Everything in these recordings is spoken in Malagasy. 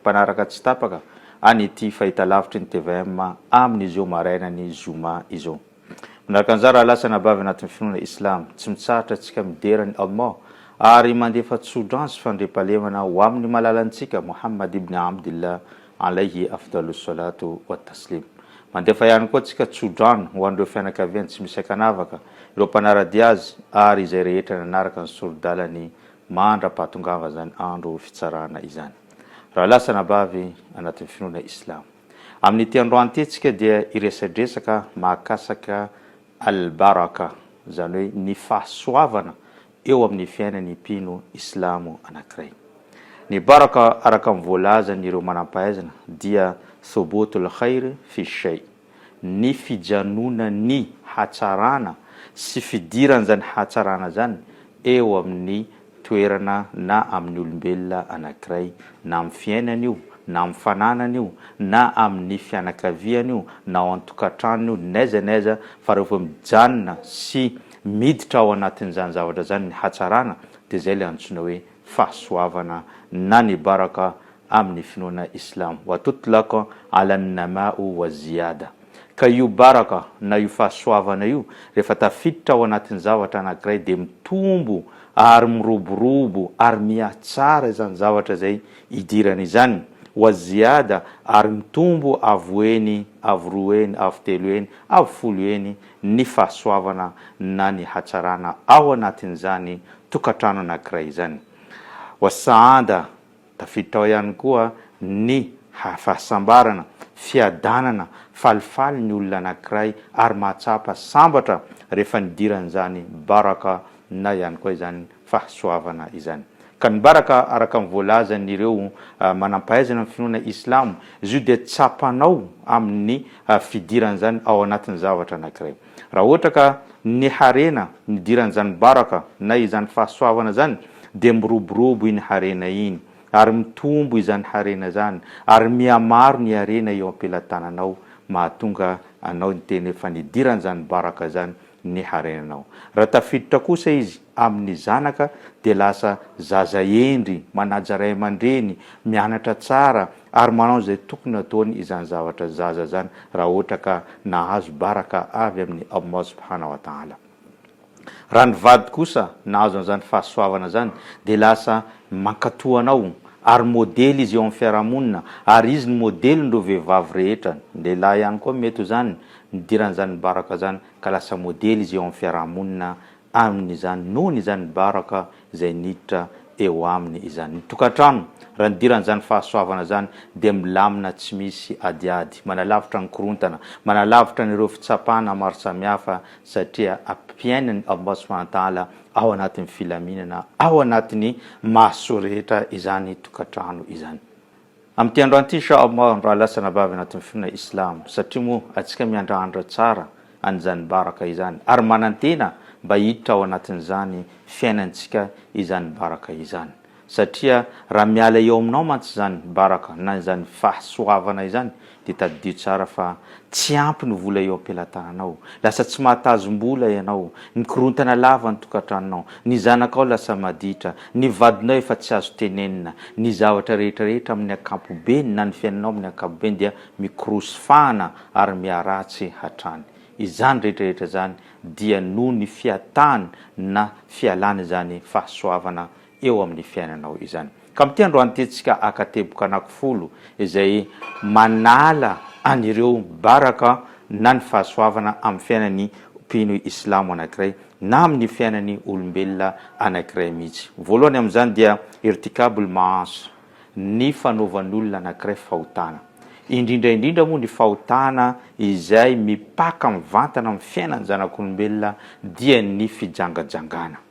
mpanaraka tsy tapaka any ity fahitalavitry ny tvm amin'izao marainan'ny zoma izao. Manaraka an'izany rahalahy sy anabavy anatin'ny finoana islam, tsy mitsahatra antsika midera an'i Allah ary mandefa tso-drano sy fandriampahalemana ho amin'ny malalantsika Mohammad ibn Abdillah alaihi afdalus solat wa taslim. Mandefa ihany koa tsika tso-drano ho an'ireo fianakaviany tsy misy ankanavaka, ireo mpanara-dia azy ary izay rehetra nanaraka ny sori-dalany mandra-pahatongavany izany andro fitsarana izany. Raha lasa anabavy anatin'ny finoana islamo. Amin'ity androantentsika dia hiresadresaka mahakasaka Al-Baraka, izany hoe ny fahasoavana eo amin'ny fiainan'ny mpino islamo anankiray. Ny Baraka araka ny voalazan'ireo manam-pahaizana dia Thubutul Khair fi Shayy. ny fijanonan'ny hatsarana sy fidiran'izany hatsarana izany eo amin'ny toerana na amin'ny olombelona anankiray, na amin'ny fiainany io, na amin'ny fananany io, na amin'ny fianakaviany io, na ao an-tokantranony io, n'aiza n'aiza, fa rehefa mijanona sy miditra ao anatin'izany zavatra izany ny hatsarana dia izay ilay antsoina hoe fahasoavana na ny baraka amin'ny finoana Islam, wa tutlaq ala an-nama'u waz-ziyada, ka io baraka na io fahasoavana io rehefa tafiditra ao anatin'ny zavatra anankiray dia mitombo ary miroborobo ary mihatsara izany zavatra izay idirany izany, waz-ziyada, ary mitombo avo eny, avo roa eny, avo telo eny, avo folo eny, ny fahasoavana na ny hatsarana ao anatin'izany tokantrano anankiray izany. Voasahanda tafiditra ao ihany koa ny fahasambarana, fiadanana, falifaly ny olona anankiray ary mahatsapa sambatra rehefa nidiran'izany baraka na ihany koa izany fahasoavana izany. Ka ny baraka araka ny voalazan'ireo manampahaizana ny finoana islamo izy io dia tsapanao amin'ny fidiran'izany ao anatin'ny zavatra anankiray. Raha ohatra ka ny harena nidiran'izany baraka na izany fahasoavana izany dia miroborobo iny harena iny ary mitombo izany harena izany ary mihamaro ny harena eo am-pelatananao mahatonga anao niteny hoe fa nidiran'izany baraka izany ny harenanao. Raha tafiditra kosa izy amin' ny zanaka dia lasa zaza hendry, manaja ray aman-dreny, mianatra tsara ary manao izay tokony hataony izany zavatra zaza izany raha ohatra ka nahazo baraka avy amin' i Allah subhana wa ta'ala. Raha ny vady kosa nahazo an'izany fahasoavana izany dia lasa mankatoa anao ary modely izy eo amin' ny fiarahamonina ary izy no modelin' ireo vehivavy rehetra, ny lehilahy ihany koa mety ho izany, Nidirany izany baraka izany ka lasa modely izy eo amin'ny fiaraha-monina aminy izany noho ny izany baraka izay niditra eo aminy izany. Ny tokantrano, raha nidirany izany fahasoavana izany dia milamina tsy misy adiady, manalavitra ny korontana, manalavitra an'ireo fitsapana maro samihafa satria ampiainany ao am-bato sy fahantala ao anatin'ny filaminana ao anatin'ny maso rehetra izany tokantrano izany. Amin'ity androan'ity Insha Allah raha lasa anabavy anatin'ny finoana Islam satria moa antsika miandrandra tsara an'izany baraka izany ary manantena mba hiditra ao anatin'izany fiainantsika izany baraka izany satria raha miala eo aminao mantsy izany baraka na izany fahasoavana izany Dia tadidio tsara fa tsy ampy ny vola eo am-pelatananao. Lasa tsy mahatazom-bola ianao. Mikorontana lava ny tokantranonao. Ny zanakao lasa maditra. Ny vadinao efa tsy azo tenenina. Ny zavatra rehetra rehetra amin'ny ankapobeny na ny fiainanao amin'ny ankapobeny dia mikorosy fahana ary miharatsy hatrany. Izany rehetra rehetra izany dia noho ny fiatany na fialany izany fahasoavana eo amin'ny fiainanao izany. Ka amin'ity androany ity tsika haka teboka anakifolo izay manala an'ireo baraka na ny fahasoavana amin'ny fiainan'ny mpino islamo anankiray na amin'ny fiainan'ny olombelona anankiray mihitsy. Voalohany amin'izany dia irtikabul maasi, ny fanaovan'olona anankiray fahotana. Indrindra indrindra moa ny fahotana izay mipaka mivantana amin'ny fiainan'ny zanak'olombelona dia ny fijangajangana.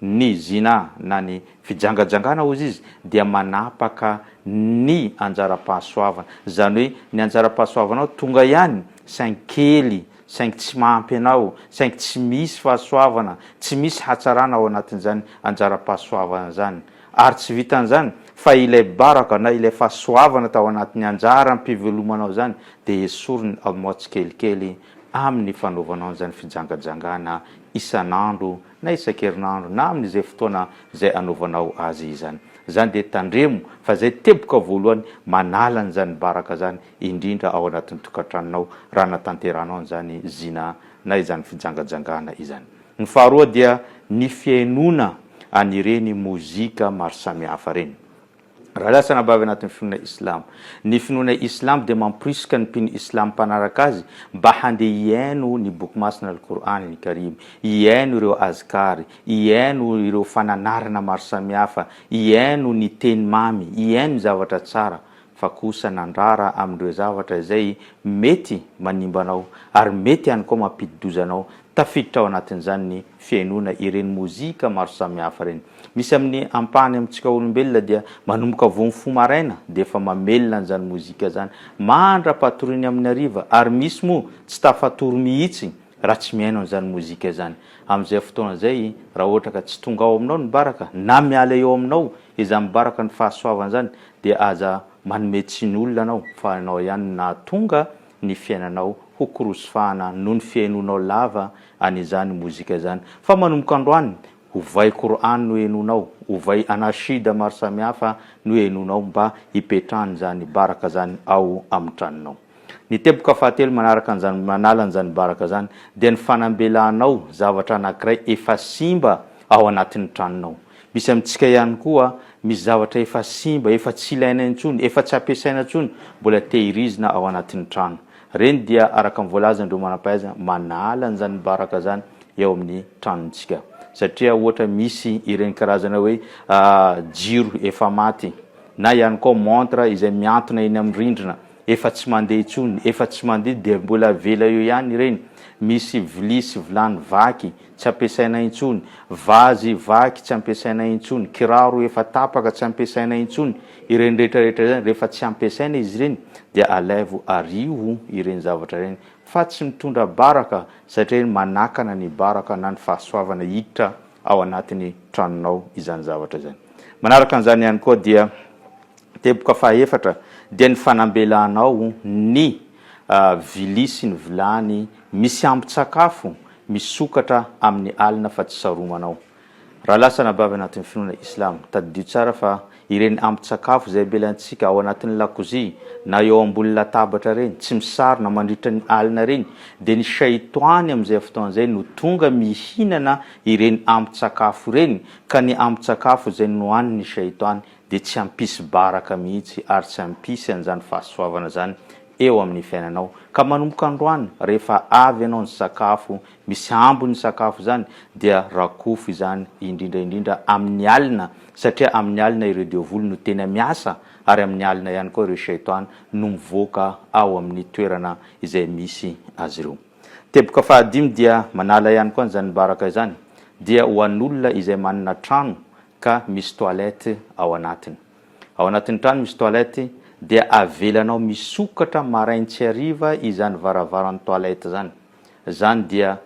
Ny zinah na ny fijangajangana hozy izy dia manapaka ny anjaram-pahasoavana. Izany hoe ny anjaram-pahasoavanao tonga ihany saingy kely, saingy tsy mahampy anao, saingy tsy misy fahasoavana, tsy misy hatsarana ao anatin'izany anjaram-pahasoavana izany. Ary tsy vitan'izany fa ilay baraka na ilay fahasoavana tao anatin'ny anjaram-pivelomanao izany dia esoriny ao aminao tsikelikely amin'ny fanaovanao an'izany fijangajangana isan'andro na isan-kerinandro na amin'izay fotoana izay anaovanao azy izany. Izany dia tandremo fa izay teboka voalohany manala an'izany baraka izany indrindra ao anatin'ny tokantranonao raha anatanterahanao an'izany zina na izany fijangajangana izany. Ny faharoa dia ny fihainoana an'ireny mozika maro samihafa ireny. Raha lasa na bavy anatin'ny finoana Islam. Ny finoana Islam dia mamporisika ny mpino Islam mpanaraka azy mba handeha hihaino ny Boky Masina Al-Qur'an Al-Karim, hihaino ireo Azkar, hihaino ireo fananarana maro samihafa, hihaino ny teny mamy, hihaino ny zavatra tsara, fa kosa nandrara amin'ireo zavatra izay mety manimba anao ary mety ihany koa mampidi-doza anao Tafiditra ao anatin'izany ny fihainoana ireny mozika maro samihafa ireny. Misy amin'ny ampahany amintsika olombelona dia manomboka vao mifoha maraina dia efa mamelona an'izany mozika izany mandra-patoriany amin'ny hariva ary misy moa tsy tafatory mihitsy raha tsy mihaino an'izany mozika izany amin'izay fotoana izay raha ohatra ka tsy tonga ao aminao ny baraka na miala eo aminao izany baraka ny fahasoavana izany dia aza manome tsiny olona ianao fa ianao ihany no nahatonga ny fiainanao ho korosifahana noho ny fihainoanao lava an'izany mozika izany. Fa manomboka androany, ovay Qur'an no henoinao, ovay Anashid maro samihafa no henoinao mba hipetrahan'izany baraka izany ao amin'ny tranonao. Ny teboka fahatelo manaraka an'izany manala an'izany baraka izany dia ny fanambelanao zavatra anankiray efa simba ao anatin'ny tranonao. Misy amintsika ihany koa, misy zavatra efa simba, efa tsy ilaina intsony, efa tsy ampiasaina intsony, mbola tehirizina ao anatin'ny trano. Ireny dia, araka ny voalazan'ireo manam-pahaizana, manala an'izany baraka izany eo amin'ny tranontsika. Satria ohatra misy ireny karazana hoe jiro efa maty, na ihany koa montre izay mihantona eny amin'ny rindrina, efa tsy mandeha intsony, efa tsy mandeha, dia mbola avela eo ihany ireny. Misy vilia sy vilany vaky, tsy ampiasaina intsony, vazy, vaky, tsy ampiasaina intsony, kiraro efa tapaka, tsy ampiasaina intsony, ireny rehetra rehetra ireny, rehefa tsy ampiasaina izy ireny dia alaivo ariho ireny zavatra ireny fa tsy mitondra baraka satria iny manakana ny baraka na ny fahasoavana hiditra ao anatin'ny tranonao izany zavatra izany. Manaraka an'izany ihany koa dia teboka fahaefatra dia ny fanambelanao ny vilia sy ny vilany misy ambin-tsakafo misokatra amin'ny alina fa tsy saromanao. Raha lasa anabavy anatin'ny finoana Islam, tadidio tsara fa ireny ambin-tsakafo izay avelantsika ao anatin'ny lakozia na eo ambony latabatra ireny, tsy misarona mandritra ny alina ireny, dia ny Shaitoany amin'izay fotoana izay no tonga mihinana ireny ambin-tsakafo ireny, ka ny ambin-tsakafo izay nohanin'ny Shaitoany dia tsy hampisy baraka mihitsy ary tsy hampisy an'izany fahasoavana izany eo amin'ny fiainanao. Ka manomboka androany, rehefa avy ianao nisakafo, misy ambiny ny sakafo izany, dia rakofy izany indrindra indrindra amin'ny alina, satria amin'ny alina ireo devoly no tena miasa, ary amin'ny alina ihany koa ireo shaitàn no mivoaka ao amin'ny toerana izay misy azy ireo. Teboka fahadimy dia manala ihany koa an'izany baraka izany, dia ho an'olona izay manana trano ka misy toilette ao anatiny. Ao anatin'ny trano misy toilette dia avelanao misokatra marain tsy hariva izany varavaran'ny toilette zany. Zany dia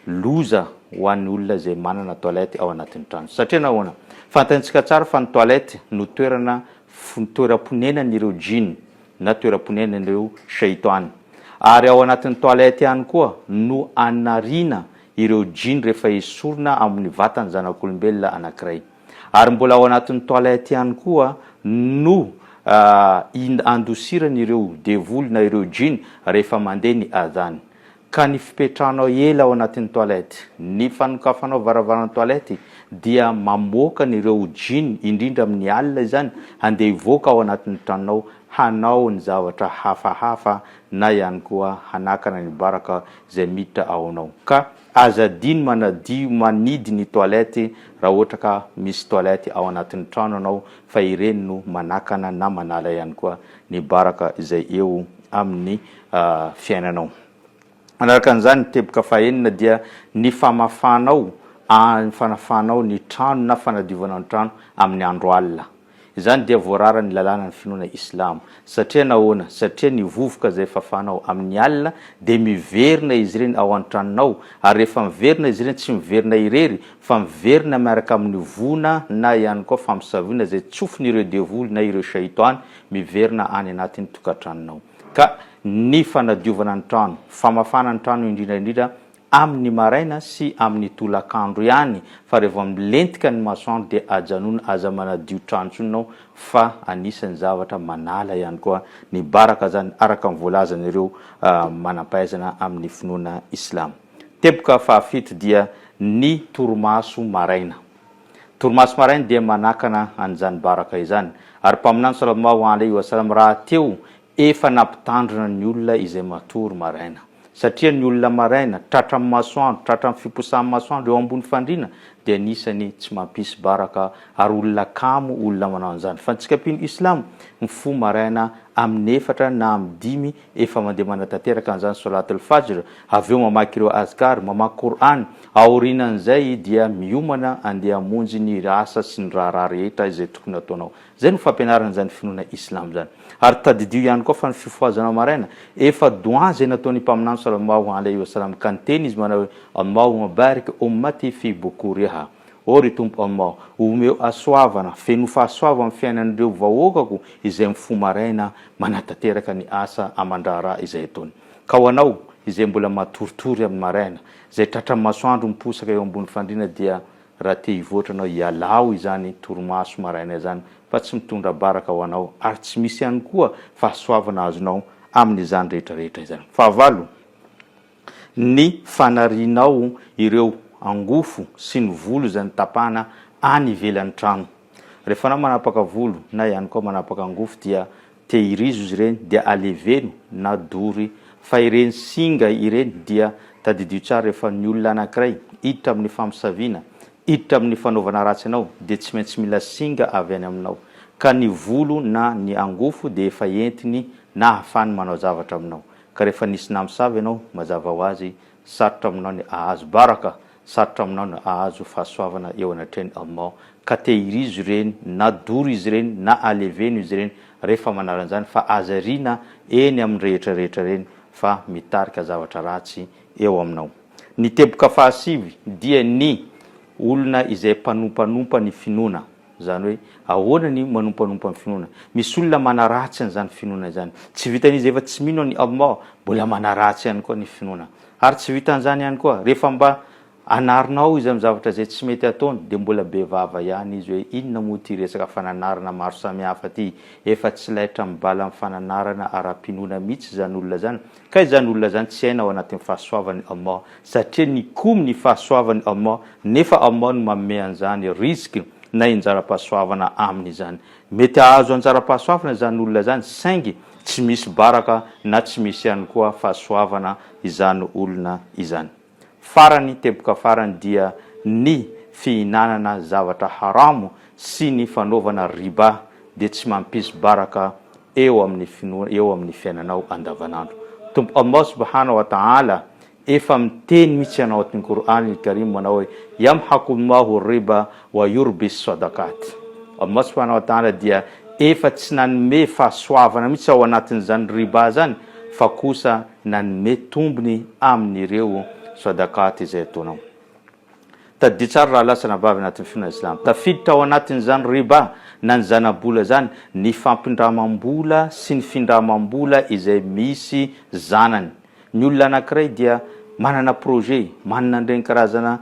loza ho an'ny olona izay manana toilette ao anatin'ny trano. Satria nahoana? Fantaintsika tsara fa ny toilette no toerana toeram-ponenan'ireo jinn na toeram-ponenan'ireo shaytan. Ary ao anatin'ny toilette ihany koa no anariana ireo jinn rehefa esorina amin'ny vatan'ny zanak'olombelona anankiray. ary mbola ao anatin'ny toilette ihany koa no andosirany ireo devoly na ireo jinn rehefa mandeha ny adhan. Ka ny fipetrahanao ela ao anatin'ny toilette, ny fanokafanao varavaran'ny toilette dia mamoaka an'ireo jinn indrindra amin'ny alina izany handeha hivoaka ao anatin'ny tranonao hanao ny zavatra hafahafa na ihany koa hanakana ny baraka izay miditra ao anao. Ka. Aza adino manadio manidy ny toilette raha ohatra ka misy toilette ao anatin'ny trano anao fa ireny no manakana na manala ihany koa ny baraka izay eo amin'ny fiainanao. Manaraka an'izany ny teboka fahenina dia ny famafanao, fanafanao ny trano na fanadiovanao ny trano amin'ny andro alina. Izany dia voararan'ny lalànan'ny finoana islamo. Satria nahoana? Satria ny vovoka izay fafanao amin'ny alina dia miverina izy ireny ao an-tranonao, ary rehefa miverina izy ireny tsy miverina irery fa miverina miaraka amin'ny voina na ihany koa famosavina izay tsofin'ireo devoly na ireo shaitan miverina any anatin'ny tokantranonao. Ka ny fanadiovana ny trano, famafana ny trano indrindra indrindra, amin'ny maraina sy amin'ny tolakandro ihany fa raha vao milentika ny masoandro dia ajanona aza manadio trano intsony ianao fa anisan'ny zavatra manala ihany koa ny baraka izany araka ny voalazan'ireo manampahaizana amin'ny finoana islamo. Teboka fahafito dia ny torimaso maraina. Torimaso maraina dia manakana an'izany baraka izany ary mpaminany salallahu alaihi wa sallam rahateo Efa nampitandrina ny olona izay matory maraina. Satria ny olona maraina, tratra amin'ny masoandro, tratra amin'ny fiposahan'ny masoandro eo ambony fandriana, dia anisan'ny tsy mampisy baraka ary olona kamo olona manao an'izany. Fa ny tsikampino islamo, mifoha maraina amin'ny efatra na amin'ny dimy, efa mandeha manatanteraka an'izany solat al-fajr, avy eo mamaky ireo azkar, mamaky Qur'an, aorianan'izay dia miomana andeha hamonjy ny asa sy ny raharaha rehetra izay tokony hataonao. Izay no fampianarana izany finoana Islam izany. Ary tadidio ihany koa fa ny fifohazana maraina, efa Doa izay nataon'ny Mpaminany Salallahu alaihi wa sallam, ka niteny izy manao hoe, Allahumma barik ummati fi bukuriha, Oh ry Tompo Allah, omeo hasoavana, fenoy fahasoava ny fiainan'ireo vahoakako izay mifoha maraina manatanteraka ny asa aman-draharaha izay ataony. Ka ho anao izay mbola matoritory amin'ny maraina, izay tratran'ny masoandro miposaka eo ambony fandriana dia Raha te hivoatra anao ialao izany torimaso maraina izany fa tsy mitondra baraka ho anao ary tsy misy ihany koa fahasoavana azonao amin'izany rehetra rehetra izany. Fahavalo, ny fanarianao ireo angofo sy ny volo izay notapahana any ivelan'ny trano. Rehefa anao manapaka volo na ihany koa manapaka angofo dia Tehirizo izy ireny dia aleveno na dory fa ireny singa ireny dia tadidio tsara rehefa ny olona anankiray hiditra amin'ny famosaviana, hiditra amin'ny fanaovana ratsy anao dia tsy maintsy mila singa avy any aminao ka ny volo na ny angofo dia efa entiny na ahafahany manao zavatra aminao ka rehefa nisy namosavy ianao mazava ho azy Sarotra aminao ny hahazo baraka, sarotra aminao ny hahazo fahasoavana eo anatrehan'i Allah. Ka tehirizo ireny, na doro izy ireny, na aleveno izy ireny, rehefa manala an'izany, fa aza ariana eny amin'ny rehetra rehetra ireny, fa mitarika zavatra ratsy eo aminao. Ny teboka fahasivy dia ny olona izay mpanompanompa ny finoana, Izany hoe ahoana ny manompanompa ny finoana? Misy olona manaratsy an'izany finoana izany. Tsy vitan'izy efa tsy mino an'i Allah, mbola manaratsy ihany koa ny finoana. Ary tsy vitan'izany ihany koa, rehefa mba anarinao izy amin'ny zavatra izay tsy mety ataony, dia mbola be vava ihany izy hoe inona moa ity resaka fananarana maro samihafa ity? Efa tsy laitra mibala amin'ny fananarana ara-pinoana mihitsy izany olona izany. Ka izany olona izany tsy aina ao anatin'ny fahasoavan'i Allah satria nikomy ny fahasoavan'i Allah nefa Allah no manome an'izany rizq na injara-pahasoavana aminy izany. Mety hahazo anjara-pahasoavana izany olona izany saingy tsy misy baraka na tsy misy ihany koa fahasoavana izany olona izany. Farany, teboka farany dia ny fihinanana zavatra haramo sy ny fanaovana riba dia tsy mampisy baraka eo amin'ny finoana eo amin'ny fiainanao andavanandro. Tompo Allah subhana wa ta'ala efa miteny mihitsy anao atin'ny Qur'an al-Karim manao hoe, Yamhaqu Allahu riba Wa yurbis sodaqat. Allah subhanahu wa ta'ala dia efa tsy nanome fahasoavana mihitsy ao anatin'izany riba zany fa kosa nanome tombony amin'ireo sodaqat izay ataonao. Tadidio tsara rahalahy sy anabavy anatin'ny finoana islamo, tafiditra ao anatin'izany riba na ny zana-bola zany ny fampindramam-bola sy ny findramam-bola izay misy zanany, Ny olona anankiray dia manana projet, manana an'ireny karazana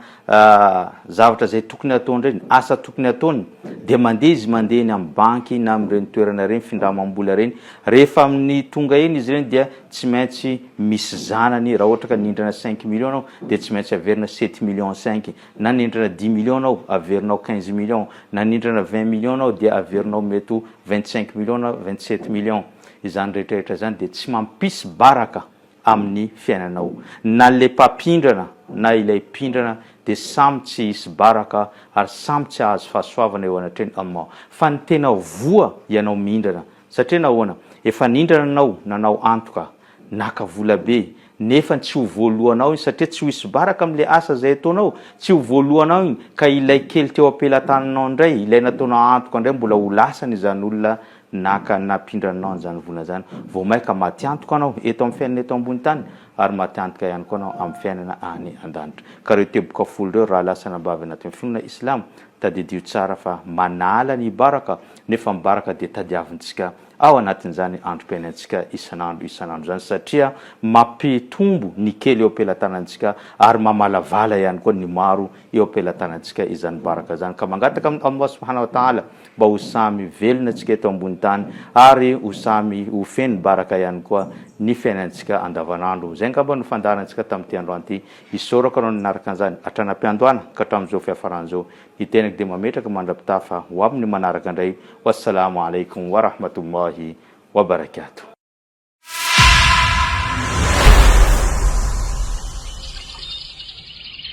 zavatra izay tokony hataony ireny, asa tokony hataony, dia mandeha izy mandeha eny amin'ny banky na amin'ireny toerana ireny, findramam-bola ireny. Rehefa amin'ny tonga eny izy ireny dia tsy maintsy misy zanany, raha ohatra ka nindrana cinq millions ianao dia tsy maintsy averina sept millions cinq, na nindrana dix millions ianao averinao quinze millions, na nindrana vingt millions ianao dia averinao mety ho vingt cinq millions na vingt sept millions. Izany rehetrarehetra izany dia tsy mampisy baraka amin'ny fiainanao. Na ilay mpampindrana na ilay mpindrana dia samy tsy hisy baraka ary samy tsy hahazo fahasoavana eo anatrehan'i Allah. Fa ny tena ho voa ianao mihindrana. Satria nahoana? Efa nindrana ianao, nanao antoka, naka vola be, nefany tsy ho voaloanao iny satria tsy ho hisy baraka amin'ilay asa izay ataonao. Tsy ho voaloanao iny ka ilay kely teo am-pelatananao indray, ilay nataonao antoka indray mbola ho lasany izany olona Naka nampindra anao an'izany vola izany. Vao mainka maty antoka anao eto amin'ny fiainana eto ambony tany, ary maty antoka ihany koa anao amin'ny fiainana any an-danitra. Ka ireo teboka folo ireo, raha lasa anabavy anatin'ny finoana Islamo, tadidio tsara fa manala ny baraka, nefa ny baraka dia tadiavintsika ao anatin'izany androm-piainantsika isan'andro isan'andro izany, satria mampitombo ny kely eo am-pelatanantsika ary mamalavala ihany koa ny maro eo am-pelatanantsika izany baraka izany. Ka mangataka amin'i Allah Subhanahu wa Ta'ala mba ho samy velona antsika eto ambony tany ary ho samy ho feno baraka ihany koa ny fiainantsika andavanandro. Izay angamba no fandaharantsika tamin'ity androany ity. Isaorako anao nanaraka an'izany hatrany am-piandohana ka hatramin'izao fiafarany izao. Ny tenako dia mametraka mandra-pitaha fa ho amin'ny manaraka indray. Wassalaamu alaikum wa rahmatullahi wa barakatuh.